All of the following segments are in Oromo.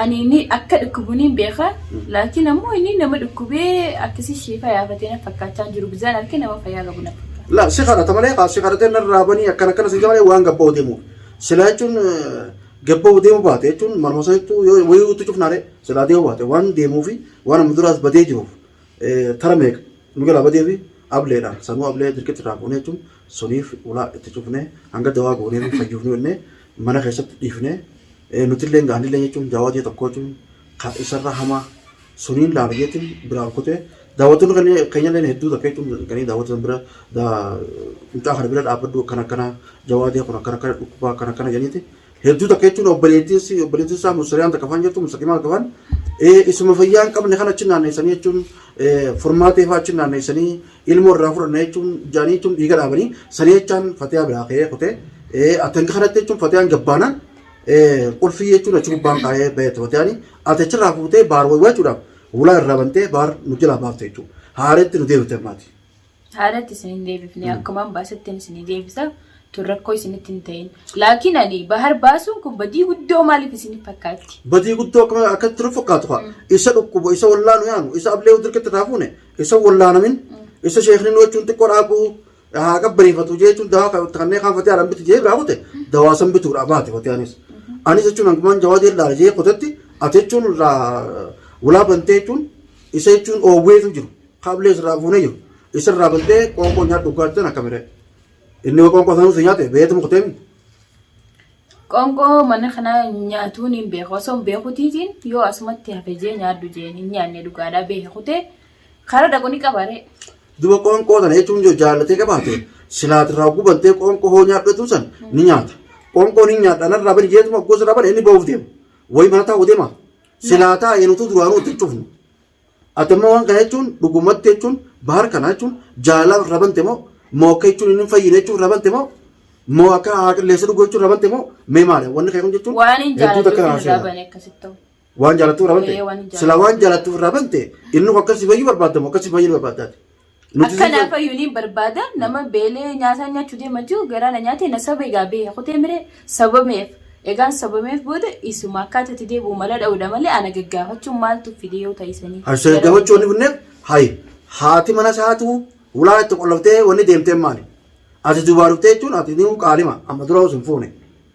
Ani inni akka dhukkubuni hin beeka laakiin ammoo inni nama dhukkubee akkasii sheekaa yaafatee na fakkaachaa jiru bizaan arke nama fayyaa qabu na fakkaata. La si kadhata malee kaa si kadhatee narraa banii akkana akkana si jamalee waan gabba'u deemu. Silaa jechuun gabba'u deemu baate jechuun marma sana jettuu yoo wayii utuu cufnaare silaa deemu baate waan deemuu fi waan amma duraas badee jiruuf tara meeqa nu jalaa badee fi ableedha sanuu ablee dirqitti irraa fuunee jechuun suniif ulaa itti cufnee hanga dawaa goonee fi fayyuuf nu jennee Mana keessatti dhiifnee nutilleen gaa anillee jechuun jaawaa ji'a tokkoo jechuun ka isarra hamaa suniin laala jeetiin biraan kutee daawwattoonni kan keenyallee hedduu takka jechuun kan daawwatan bira mucaa kana bira dhaabbadhu akkana akkana jawaa ji'a kun akkana akkana dhukkubaa akkana akkana janiiti hedduu takka jechuun obboleettiin obboleettiin isaa musiriyaan takka faan jirtu musaqimaa takka faan isuma fayyaa hin qabne kan achi naanneessanii jechuun furmaatee faa achi naanneessanii ilmoo irraa fudhanna jechuun jaanii jechuun dhiiga dhaabanii sanii jechaan fatiyaa biraa ka'ee kutee atan kanatti jechuun fatiyaan gabbaanaan qulfii jechuun achi gubbaan kaa'ee bayeetti fatiyaan ati achirraa fuutee baar waywachuudhaaf ulaa irraa bantee baar nu jalaa baafte jechuudha haareetti nu deebite maati. Haareetti isin hin deebifne akkumaan baasettiin isin deebisa tun rakkoo isinitti hin ta'in laakiin ani bahar baasuun kun badii guddoo maaliif isin fakkaatti. Badii guddoo akkatti nu fakkaatu isa dhukkubu isa wallaalu yaanu isa ablee dirqatti irraa fuune Isa wallaanamin isa sheekni nuwachuun xiqqoo dhaabuu haa qabbaneeffatu jechuun dawaa kan kanneen kan fatee haadhaan bitu jee biraa kute dawaa san bituudha baate fatee anis. Anis jechuun hangumaan jawaa jee laala jee kutetti ati jechuun irraa ulaa bantee jechuun isa jechuun oowweetu jiru kaablee isirraa fuunee jiru isirraa bantee qoonqoo nyaadhu dhugaatti sana kamiree. Inni qoonqoo sanuu si nyaate beetu mukteemi. Qoonqoo mana kanaa nyaatuun hin beeku. Osoo hin beekutiitiin yoo asumatti hafe jee nyaadhu jeen hin nyaanne dhugaadhaa beeke kutee karaa dhaqu ni qabaree. Duba qoonqoo tana jechuun yoo jaallatee qabaate silaati irraa gubantee qoonqoo hoo nyaadhatu san ni nyaata. Qoonqoo ni nyaadha narraa bari jeetuma gosa irraa bari inni bahuuf deema. Wayi mana taa'u deema. Silaataa eenutu duraanuu itti hin cufnu. Ati amma waan kana jechuun dhugumatti jechuun bahar kana jechuun jaalala irra bante moo moo akka jechuun inni hin fayyine jechuun irra bante moo moo akka haa qilleessa dhuguu jechuun irra bante moo mee maali wanni kee kun jechuun Waan hin hedduu takka jaalattu irraa irraa seena. bane akkasitti ta'u. Waan jaalattu irraa bante Ee, waan hin jaalattu. sila waan jaalattu irraa bante inni kun akkasii fayyuu barbaadda moo akkasii fayyuu barbaaddaati. Nuti Akka naaf ayyuu niin barbaada nama beelee nyaataa nyaachuu deema jiru garaa na nyaatee na sobe egaa beeka kutee miree sabameef egaan sabameef booda isuma akkaata itti deebi'u mala dha'uudha malee ana gaggaafachuun maaltu fide yoo ta'isanii Asha gara gaafachuu wanni bunneef hay haati mana isaatu ulaa itti qollaftee wanni deemteen maali? Ati dubaa dhuftee jechuun ati ni qaalima amma dura osoo hin fuune.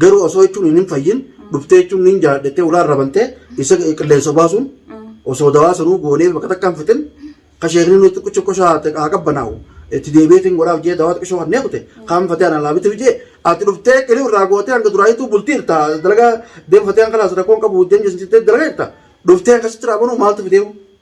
Garuu osoo jechuun hin hin fayyin dhuftee jechuun niin jaadhettee ulaa irra bantee isa qilleensa baasuun osoo dawaa sanuu goonee bakka takkaan fixin ka sheekni nuti xiqqicha koshaa haa qabbanaa'u itti deebi'eetiin godhaaf jee dawaa xiqqishoo hannee kute kaan fatee anaa laabitiif jee ati dhuftee qilii irraa gootee hanga duraayituu bultii irta dalagaa deem fatee hanga laas rakkoon qabu deem jeesitee dalagaa irta dhuftee akkasitti raabanuu maaltu fideemu.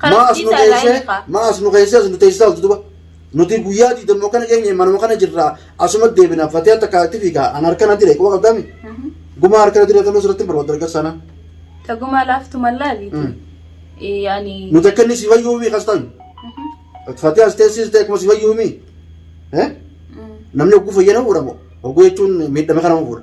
Kana Maa as nu dhiisaa irraa geessee inni kaa. maa as nu geessee as nu teessisaa oltu duba. Nuti guyyaa diidammoo kana keenya manuma kana jirraa asuma deebina fatee akka kaatti fiigaa an harkana dire quba qabdaami. Gumaa harkana dire toluu sirratti hin barbaadu dargaggeessa sana. Tagumaa laaftu mallaabi. Mm. Yaani. Nuti akka inni si fayyuu mii kastan. Fatee as teessiste akkuma si fayyuu mii. Eh? Namni oguu fayyana fuudha moo? Oguu jechuun miidhame kana fuudha.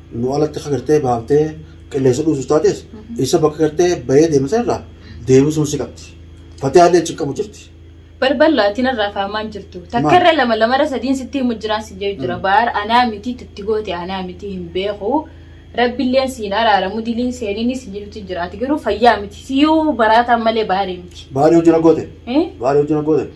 Immoo alatti akka gartee baaftee qilleensa dhuusus taates isa bakka gartee bahee deema sanarraa deebisuun si qabdi. Fatee haallee achi qabu jirti. Balballa ati narraa faamaan jirtu. Takka irra lama lama irra sadiin sitti himu jiraan si jedhu jira. Baar anaa miti tutti goote anaa miti hin beeku. Rabbilleen siin araaramu diliin seenini si jedhuti jira. Ati garuu fayyaa miti. Siyuu baraataan malee baarii miti. Baarii hojii na goote. Eh? Baarii hojii na goote.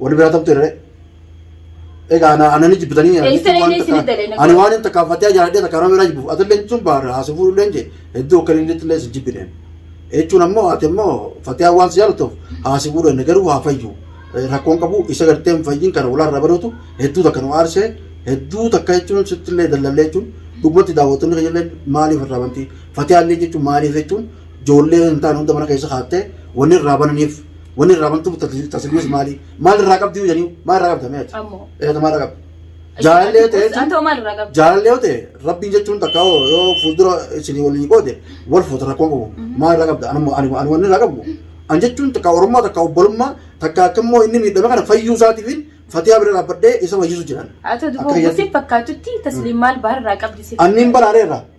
Wani biraa taptu irree. Egaa ana ana ni jibbitanii ani Eessa jechuun waan illee isin takka- dalee na ani godha. waan hin takkaan fattee jaaladhee takkaan nama biraa jibbuuf atillee jechuun baara haasoo fuudhullee jee hedduu akka inni illee isin jibbineen. Jechuun ammoo ati immoo fattee waan si jaalatuuf haasoo fuudhan garuu haa fayyu. Eh, Rakkoon qabu isa gartee hin fayyin kana ulaa irraa baduutu hedduu takka nu aarsee hedduu takka jechuun sitti illee dallallee jechuun dhugumatti daawwattoonni keenya illee maaliif irraa banti fattee illee jechuun maaliif jechuun ijoollee hin taane hunda mana keessa kaattee wanni irraa bananiif Wanni irraa bantu tasgabbiis maali? Maal irraa qabdi jedhanii maal irraa qabda mee ati? Ammoo. Eeyyata maal irraa qabda? Jaalallee ta'e jechuun Antoo maal irraa qabda? jaalallee yoo ta'e rabbiin jechuun takka yoo yoo fuuldura isinii waliin qoode wal fuuta rakkoo qabu maal irraa qabda? Ani ani ani wanni irraa qabu an jechuun takka oromummaa takka obbolummaa takka akka immoo inni miidhame kana fayyuu isaatiif fatiyaa bira dhaabbadhee isa fayyisu jedhan. Haa ta'u Akka duuba guutuuf fakkaachutti tasliim maal baal irraa qabdi siif. Anniin baraareerra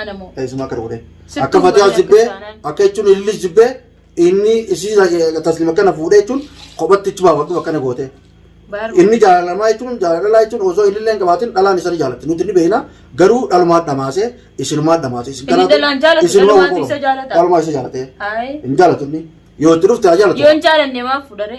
Ana moo. Teessuma akka rukutee. Sittuu Akka fatiyaa godhee jibbee akka isaanaan. akka jechuun ilillis jibbee inni isii tasliima kana fuudhee jechuun kophatti ichi baafatu akkana gootee. Baar. Inni jaalalamaa jechuun jaalalaa jechuun osoo ilillee hin qabaatin dhalaan isa ni jaalatti. Nuti ni beekna garuu dhalumaan dhamaasee isinumaan dhamaasee. Isin Inni kanaaf dhalaan jaalatu, isinuma dhalumaatu wal isa fuudha. jaalata. Dhalumaa isa jaalatee. Haay. Hin jaalatu inni. Yoo itti dhufte haa jaalatu. Yoo hin jaalanne maaf fudhare?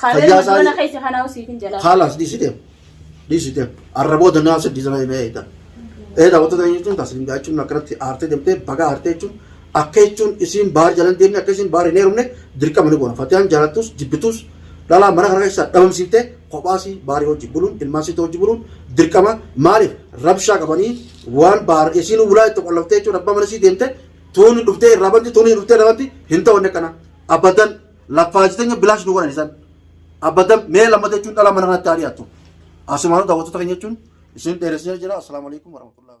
Kaaleen Fayyaa isaa- mana keessa kanaa usiif hin jalaa. Haalaas dhiisiteef. Dhiisiteef. Arraboo danaa sadii sana himee eeyitan. Eeda wantoota hin jechuun taasisan gaa jechuun akkanatti aartee deemtee baga aartee jechuun akka jechuun isiin baar jalan deemne akka isiin baar hin heerumne dirqama ni goona. Fatiyaan jaalattus jibbitus dhalaa mana kana keessaa dhabamsiiftee kophaasii baarii hojii buluun ilmaan siitoo hojii buluun dirqama maaliif rabshaa qabanii waan baar isiin bulaa itti qollaftee jechuun abbaa mana isii deemte tuunni dhuftee irraa banti tuunni dhuftee irraa banti hin ta'u inni kana abadan Laffaajitanya bilaash nu godhan isan. Abadan mee lammata jechuun dhala mana kanatti haa dhiyaattu. Asumaanuu daawwattoota keenya jechuun isin dheeressee jira. Assalaamu alaikum warahmatullahi